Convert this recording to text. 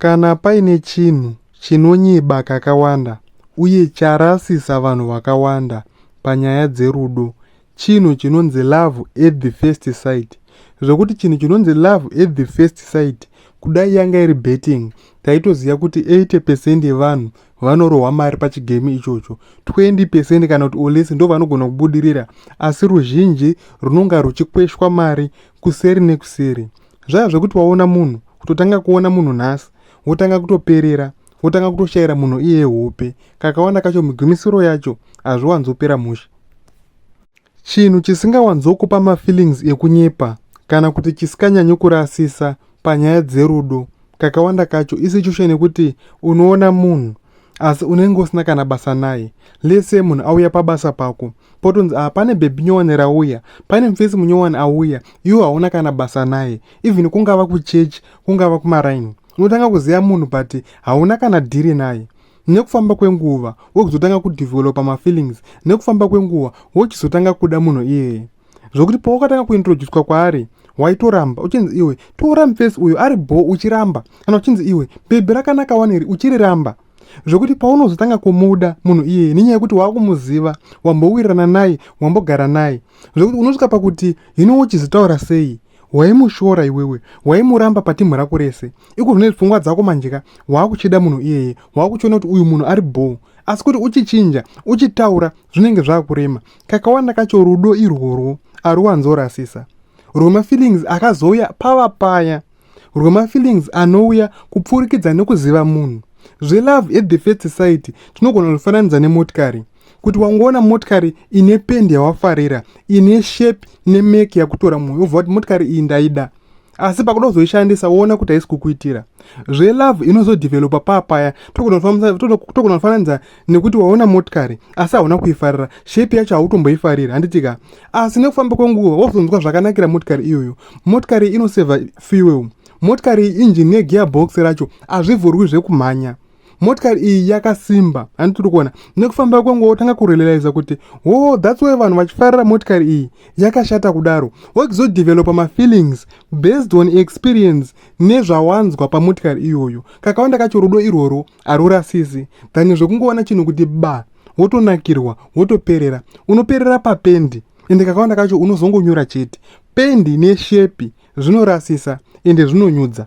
Kana paine chinhu chinonyeba kakawanda uye charasisa vanhu vakawanda panyaya dzerudo chinhu chinonzi love at the first sight zvekuti chinhu chinonzi love at the first sight kudai yanga iri betting taitoziva kuti 80 percent yevanhu vanorohwa mari pachigame ichocho 20 percent kana kuti olesi ndo vanogona kubudirira asi ruzhinji runonga ruchikweshwa mari kuseri nekuseri zvaya zvekuti waona munhu kutotanga kuona munhu nhasi wotanga kutoperera wotanga kutoshaira munhu iye hope kakawanda kacho migumisiro yacho hazviwanzopera mushe chinhu chisingawanzokupa mafeelings ekunyepa kana kuti chisikanyanye kurasisa panyaya dzerudo kakawanda kacho isitution yekuti unoona munhu asi unenge usina kana basa naye lese munhu auya pabasa pako potonzi a ah, pane bhebhi nyowani rauya pane mfesi munyowani auya iwo hauna kana basa naye even kungava kuchechi kungava kumaraini unotanga kuziva munhu but hauna kana dhiri naye nekufamba kwenguva wokuzotanga kudevhelopa mafeelings nekufamba kwenguva wochizotanga kuda munhu iyeye zvokuti pawakatanga kuintroducwa kwaari waitoramba uchinzi iwe tora mfesi uyo ari bho uchiramba kana uchinzi iwe bhebhi rakanaka waneri uchiriramba zvokuti paunozotanga kumuda munhu iyeye nenyaya yekuti waakumuziva wambowirirana naye wambogara naye zvokuti unosvika pakuti hino wochizitaura sei waimushora iwewe waimuramba patimhu rako rese iko zvine pfungwa dzako manjeka waakuchida munhu iyeye waakuchiona kuti uyu munhu ari bho asi kuti uchichinja uchitaura zvinenge zvaakurema kakawanda kacho rudo irworwo aruwanzorasisa rwemafeelings akazouya pava paya rwemafeelings anouya kupfurikidza nekuziva munhu zvelove at the first sight tinogona kufananidza nemotikari kuti wangoona motikari ine pendi yawafarira ine shape nemake yakutora mwoyo wobva kuti motikari iyi ndaida asi pakuda kuzoishandisa woona kuti haisi kukuitira zvelove inozodevelopa paa paya tokunofananidza nekuti waona motikari asi hauna kuifarira shepi yacho hautomboifariri handitika asi nekufamba kwenguva wozonzwa zvakanakira motikari iyoyo motikari inoseva fuel motikari injini yegearbox racho hazvivhurwi zvekumhanya motikari iyi yakasimba handitiri kuona nekufamba kwangu wotanga kurelaiza kuti wo oh, thats why vanhu vachifarira motikari iyi yakashata kudaro wochizodevelopa mafeelings based on experience nezvawanzwa pamotikari iyoyo kakawanda kacho rudo irworwo harurasisi than zvekungoona chinhu kuti ba wotonakirwa wotoperera unoperera papendi ende kakawanda kacho unozongonyura chete pendi neshepi zvinorasisa ende zvinonyudza